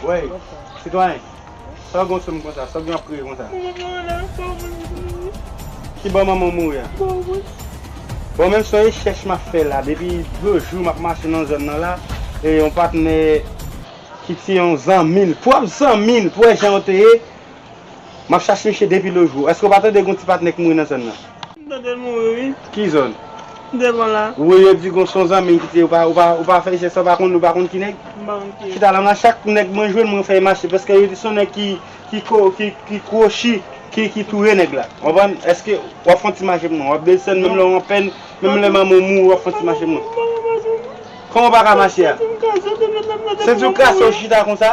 Wey, sitwayen, sa w gen yon soum konsa, sa w gen yon ap kriye konsa? Mwen pa konnen la, bò mwen li mouri. Ki bò manman w mouri a? Bò mwen. Bon men son rechèch m ap fè la, depi 2 jou m ap mache nan zòn nan la, e yon patnè ki se yon zanmi l, pwòp zanmi l, pou wè jan yo te ye, Map chache misye depi lojou. Eske ou pa tande gon ti patnè ki mouri nan zòn nan? M tande l mouri wi. Ki zòn? Devan la. Wi yo di gon son zanmi ki te ou pa fè jès la ou pa konn ou pa konn ki nèg? M pa konn ki e. Chita la nan chak nèg mwen jwenn mwen fè e mache paske yo di son nèg ki ki ko ki kwochi ki touye nèg la konprann eske wap fon ti mache pou mwen wap desann menm lè w anpèn menm lè manman w mouri wap fon ti mache pou mwen? Kòman w pa ka mache a? Senti w kase menm nan depi w mouri. Senti w kase w chita konsa?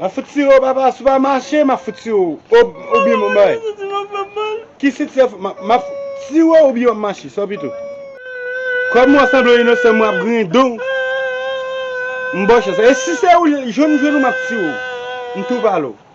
Map fout tire w papa si w pa mache map fout tire w oubyen map bay. Ki si tire map tire w oubyen map mache sa w pito. Kòm ou sanble yon inosan mwen ap griyen do w. M bòchè sa. E si se ou jwenn m jwenn ou map tire w. M tou pale w.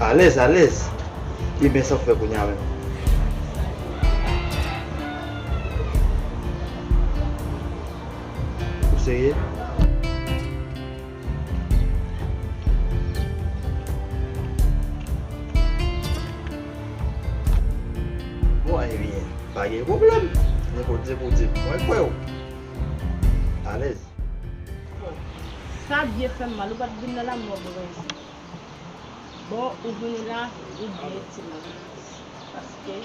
Alèz alèz Ebyen sa w fè kounya menm? Ou serye? Bon ebyen pa gen pwoblèm Nenpòt lè pou w di m mwen kwè w Alèz Bon sa byen fè m mal ou pa t vin nan lanmè w Brens. Bon ou vini la ou byen ti moun paske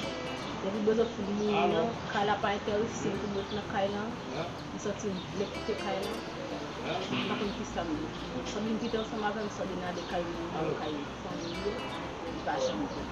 depi bouzòt fin mouri an kay la pa entèresem pou mwen ret nan kay lan m santi m vle kite kay lan m pa konn kisam ye Sandrine kite ansanm avèm Sandrine ale kay moun yo kay fanmiy yo li pa janm vini.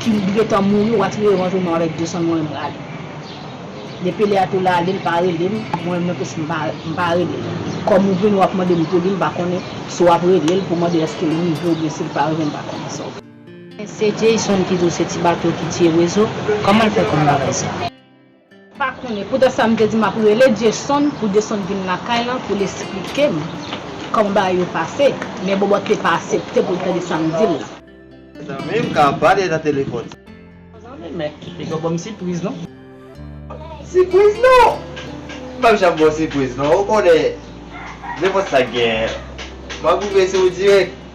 Kim t gentan mouri watch revanj ou non avèk Jason mwen menm rale depi lè a tou la lil pa relem mwen menm plus mpa relel kòm ou vini wap mandem pouli mpa konnen si wap relel pou mande eskel rive oubyen sil pa rive mpa konnen sa wap Se Jayson ki di w se ti bato ki tiye rezo? Kòman l fè konn bagay sa? Pa konnen. Poutèt sa m te di m ap rele Dyesonn pou Dyesonn vin lakay lan pou l esplike m kòman bagay yo pase. Men Bòbòt te pa asepte pou l tande sa m di l lan. Zanmi m ka ap pale nan telefòn sa. Zanmi men, li pa ban m sipriz non. Sipriz non! M pap janm ba w sipriz non. Ou konnen nenpòt sa k genyen. M ap rive sou ou dirèk.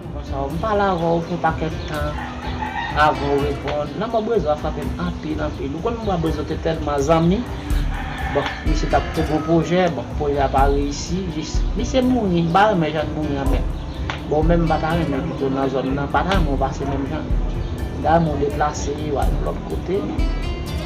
Bonsoir, m pale avèw pou pakèt tan avan ou reponn, lanmò Brezo a frapem anpil anpil, ou konn mwen a Brezo te tèlman zanmi, bon misye tap fè gwo pwojè, bon pwojè a pa reyisi, jis misye mouri, m pa renmen jann mouri an menm, bon ou menm m pata renmen pito nan zòn nan, m pata renmen ou pase menm jan, m ta renmen ou deplase ou al yon lòt kote.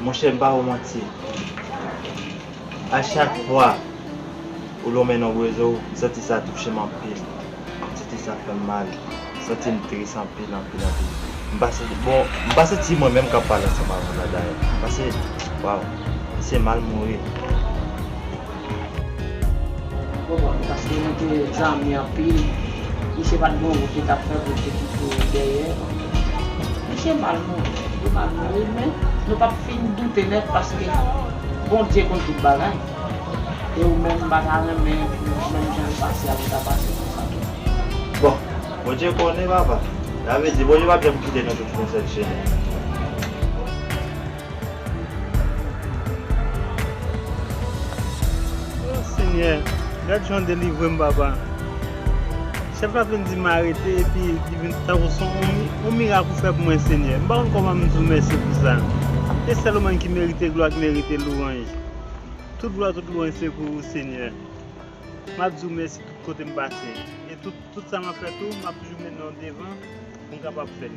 Monchè m pa wou manti a chak fwa ou lonmen non Brezo m santi sa touche m anpil m santi sa fè m mal m santi m tris anpil anpil anpil m pa santi bon m pa santi mwen menm k ap pale ansanm avè w la dayè paske waww m se mal mouri. Konprann paske li te zanmi anpil misye pat gen yon wout li tap fè poul te kite dèyè misye mal mouri li mal mouri men nou pap fin doute nèt paske Bondye konn tout bagay e ou menm mpa ta renmen pou menm jan li pase a ou ta pase konsa tou. Bon Bondye konnen papa. Sa vle di Bondye pap janm kite nou tout fè yon sèl chemen. Oh senyè gad janw delivrem papa chèf la vin di m arete epi li vin tankou son on mirak ou fè pou mwen senyè m pa konn koman m di w mèsi pou sa e sèl ou menm ki merite glwa ki merite louwanj tout glwa tout louwanj se pou ou senyè map di w mèsi tout kote m pase e tout sa map fè tou map toujou met non w devan pou m kapab fè l.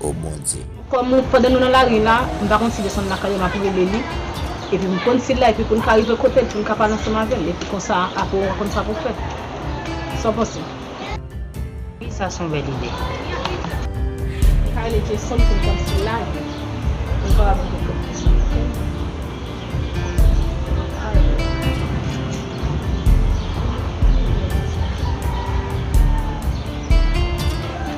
oh Bondye. Kòm pandan nou nan lari la, m pa konn si desann lakay yo m ap rele li, epi m konn si l la epi pou n ka rive kote l pou n ka pale ansanm avè l epi konsa apre ou va konn sa pou w fè. Sa w panse? Wi sa s on bèl ide. M ka rele Jason pou m konn si l la epi pou n kapab rive kote l ansanm ok.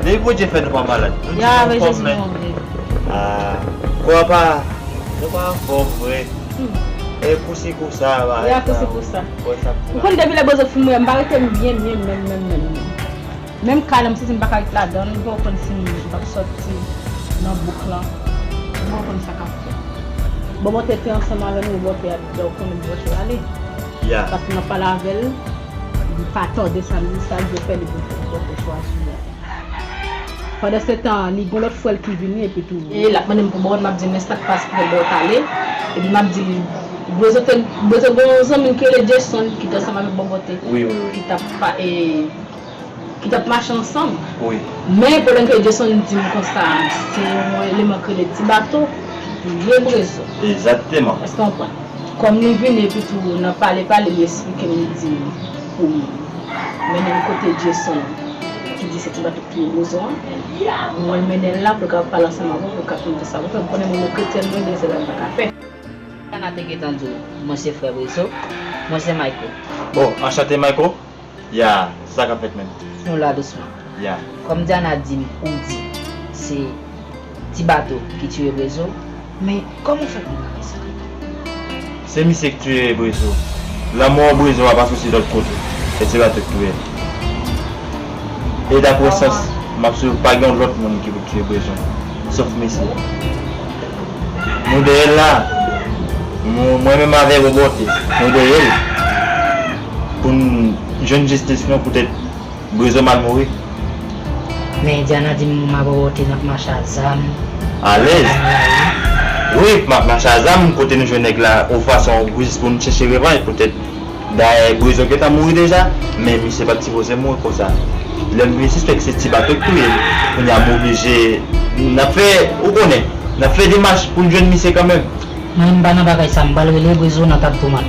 Depi Bondye fè nou pa malad nou di nou anfòm men Aah kò a pa Nou pa anfòm vre E kou si kou sa bagay sa E kou si kou sa Ou konn depi lè bozo fin mwen m pa rete m byen byen menm menm menm menm Menm kay lan m santi m pa ka ret ladan l m poko konn si m t ap sòti nan bouk lan M poko konn sa k ap fèt Bòbòte te ansanm avè m e bòbòte a t di l ou konnen bòbòte ale Paske m ap pale avè l Li pa tòde sa li sa lvle fè li vin fè pwòp chwa sou li. Pandan se tan an li gon lòt frèl ki vini epi tou. E lap mandem pou bawon map dil men sak pas pou bawon pale epi map dil bwezote bwezo gon zanmil ki rele Jason ki te ansanm avèk bawon te ki tap pa e. ki tap mache ansanm men pwoblèm ke Edyeson dim konsa a se yon eleman ki rele ti bato vye brezo eske w konprann kòm li vini epi tou nan pale pale li esplike m li dim pou m mennen l kote Edyeson ki di se ti bato ki vye brezo an mwen mennen l la pou l kapab pale ansanm avè w pou l ka finn fè sa pou l fè m konnen mwen kretyen mwen gen zèl m paka fè. Ana te gentan di w mwen se frè brezo mwen se mayko. Oh anchante mayko. Yeah se sa kap fèt menm. Nou la dousman. Yeah. Kòm Diana dim ou di se Ti bato ki tuye Brezo men kòman ou fè konn bagay sa yo? Se misye ki tuye Brezo. Lanmò Brezo a pa soti lòt kote. Se Ti bato ki touye l. E daprè sòs map swiv yo pa gen yon lòt moun ki pou t tuye Brezo sof misye. Nou dèyè l la. Mwen menm avè Roborte nou dèyè l. Pou n jwenn jistis nou poutèt Brezo mal mouri. Men Indiana di m ma bòbòte n ap mache a zam. Alèz. Wi, m ap mache a zam kote nou jwenn nèg la o fason jis pou n chèche revanj poutèt dayè Brezo gentan mouri deja men misye pa t sipoze mouri konsa. Lè m vin sispèk se ti bato k touye l kounye a m oblije n ap fè ou konnen n ap fè demach pou n jwenn misye kanmenm. Mwen m pa nan bagay sa m pral rele Brezo nan tab tomat.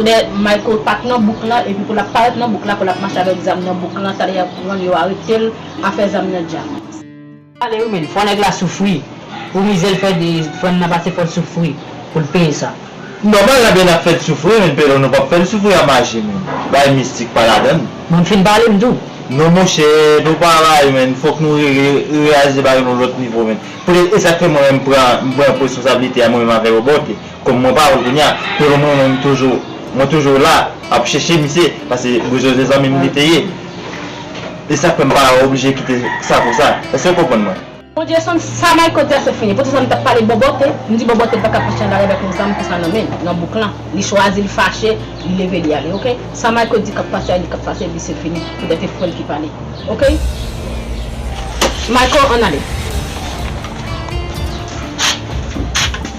Lè Michael pat nan bouk la epi pou lap parèt nan bouk la pou lap mache avèk zam nan bouk la talè yap pranl yo aretel afè zam nan dja. Pale wi menn fò nèg la soufri pou mizèl fè de frèm nan pase fòl soufri poul peye sa. Nòmal la bèn ap fèt soufri menn pèlon nou pap fèl soufri a maji menn bagay mistik pa ladann. Bon m fin pale m tou. Non monchè nou pa bay menn fòk nou rele reyaje bagay nou lòt nivo menn. Poutèt esak fè mwen menm m pran m pran responsabilite a mwen menm avè Roborte. Kom mwen pa wèl kounya men mwen mwen m toujou mwen toujou la ap cheche misye pase boujòze zanmi m li te ye e sak fè m pa oblije kite sa konsa eske w konprann mwen. Bondye son sa Mayko di a se fini pou ti sa m tap pale bòbòte m di bòbòte paka fache anba revè pou zanm pou sa nan men nan bouk lan li chwazi li fache li leve li ale ok sa Mayko di kap pase a li kap pase epi se fini pou tèt e frè l ki pale ok Mayko ann ale.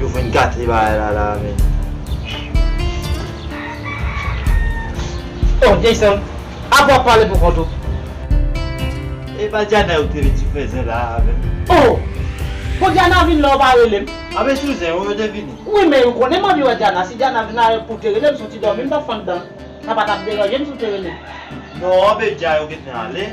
Yo vin gate bagay la la men. Oh Jayson, apa wap pale pou kont ou? E pa Diana yo te vin sou fè zen la a avè m? Oh! Bon Diana vin la ou pa rele m? A men sou zen yo yo te vini. Wi men ou konnen m anvi wè Diana, si Diana vin la pou w te rele m, si w ti dòmi m t ap fann dan, sa pa t ap deranje m si w te rele m. Non men dja yo gentan ale.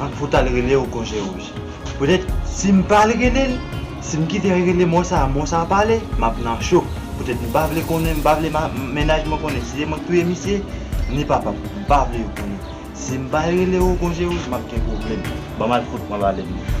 An fout al rele ou konje wouj. Petèt si m pa al rele l, si m kite al rele mò sa a, mò sa a pa ale, m ap nan cho. Petèt m pa vle konnen, m pa vle mennaj mwen konnen si se mwen ki touye misye, ni papa m. M pa vle yo konnen. Si m pa al rele ou konje wouj, m ap gen pwoblèm. Ban m al fout pran valè m.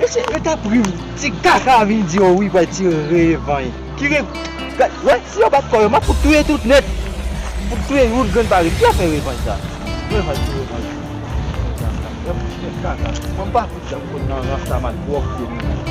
Mesye yo tap ri wi. Ti kaka vin di yo wi pral ti revany. Ki re gad wè si yo bat kò yo map fout touye tout nèt. Fout touye yon grenn pa ret ki afè revany sa. Revany pou revany. Yon ti nèt kaka. Mwen pa fout janm konn nan rastaman twòp vye moun nan.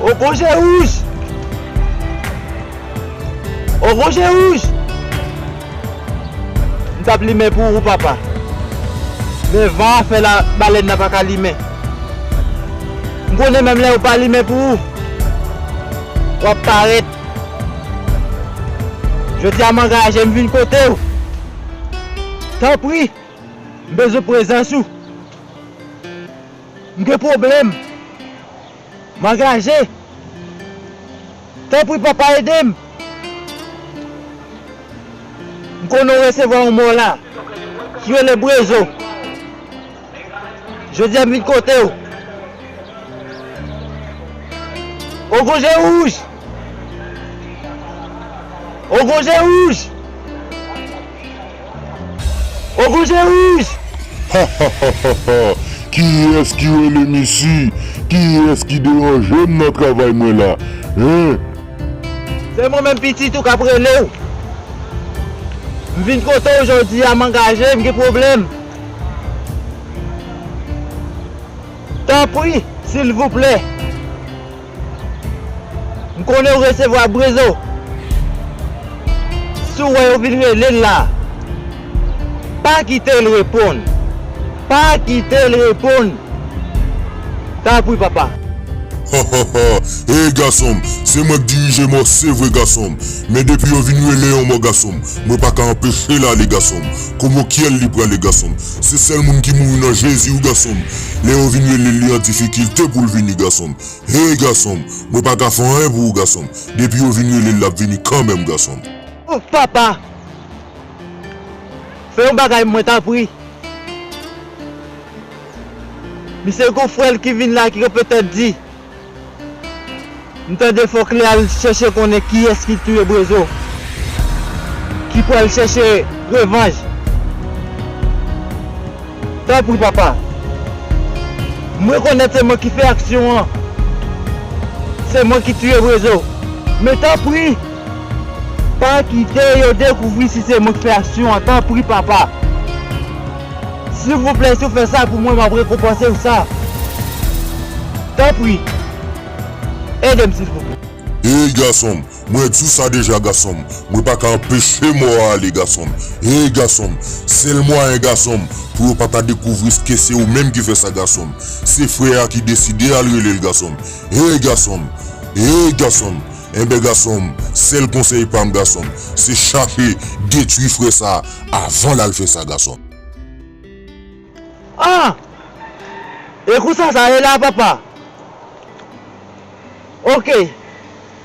O kon je wouj! O kon je wouj! M tap limen pou ou papa. Men van an fè la balèn nan paka limen. M konnen menm lè ou pa limen pou ou, wap parèt. Jodi a m angaje m vin kote ou. Tanpri, m bezwen prezans ou. M gen pwoblèm. M angaje! Tanpri papa ede m! M konnen w resevwa yon mò la, ki rele Brezo. Jodi a m vin kote w. O gwo je wouj! O gwo je wouj! Ogou je rouj! Hahahhaha kiyès ki relem isi kiyès ki deranjem nan travay mwen la hein. Se mwen menm pitit ou kap relew. M vin kote w jodi a m angaje m gen pwoblèm. Tanpri silvouplè. M konnen ou resevwa Brezo. Si w wè yo vin rele l la, pa kite l reponn. Pa kite l reponn. Tanpri papa. Hahahha Hey gason m, se mwen k dirije mò se vre gason m, men depi yo vin rele yon mò gason m, mwen pa ka anpeche l ale gason m, komo kyèl li prale gason m, se sèl moun ki mouri nan Jezi wi gason m, lè yo vin rele l li an difikilte pou l vini gason m. Hey gason m mwen pa ka fè anyen pou ou gason m depi yo vin rele l lap vini kanmenm gason m. Ouff papa fè yon bagay mwen tanpri misye gon frèl ki vin la ki kanpe tèt di m tande fòk li al chèche konnen kiyès ki touye Brezo ki pral chèche revanj. Tanpri papa. M rekonèt se mwen ki fè aksyon an. Se mwen ki tiye Brezo. Men tanpri pa kite yo dekouvri si se mwen ki fè aksyon an tanpri papa. Silvouplè si w fè sa pou mwen map rekonpanse w sa. Tanpri ede m silvouplè. Hey gason m Mwen diw sa deja gasonm mwen paka anpeche mò a ale gasonm hey gasonm sèl mwayen gasonm pou yo pata dekouvri ske se ou menm ki fè sa gasonm se frè a ki deside al relel gasonm hey gasonm hey gasonm enben gasonm sèl konsèy pam gasonm se chache detwi frè sa avan lal fè sa gasonm. Ah! E konsa sa ye la papa? Ok.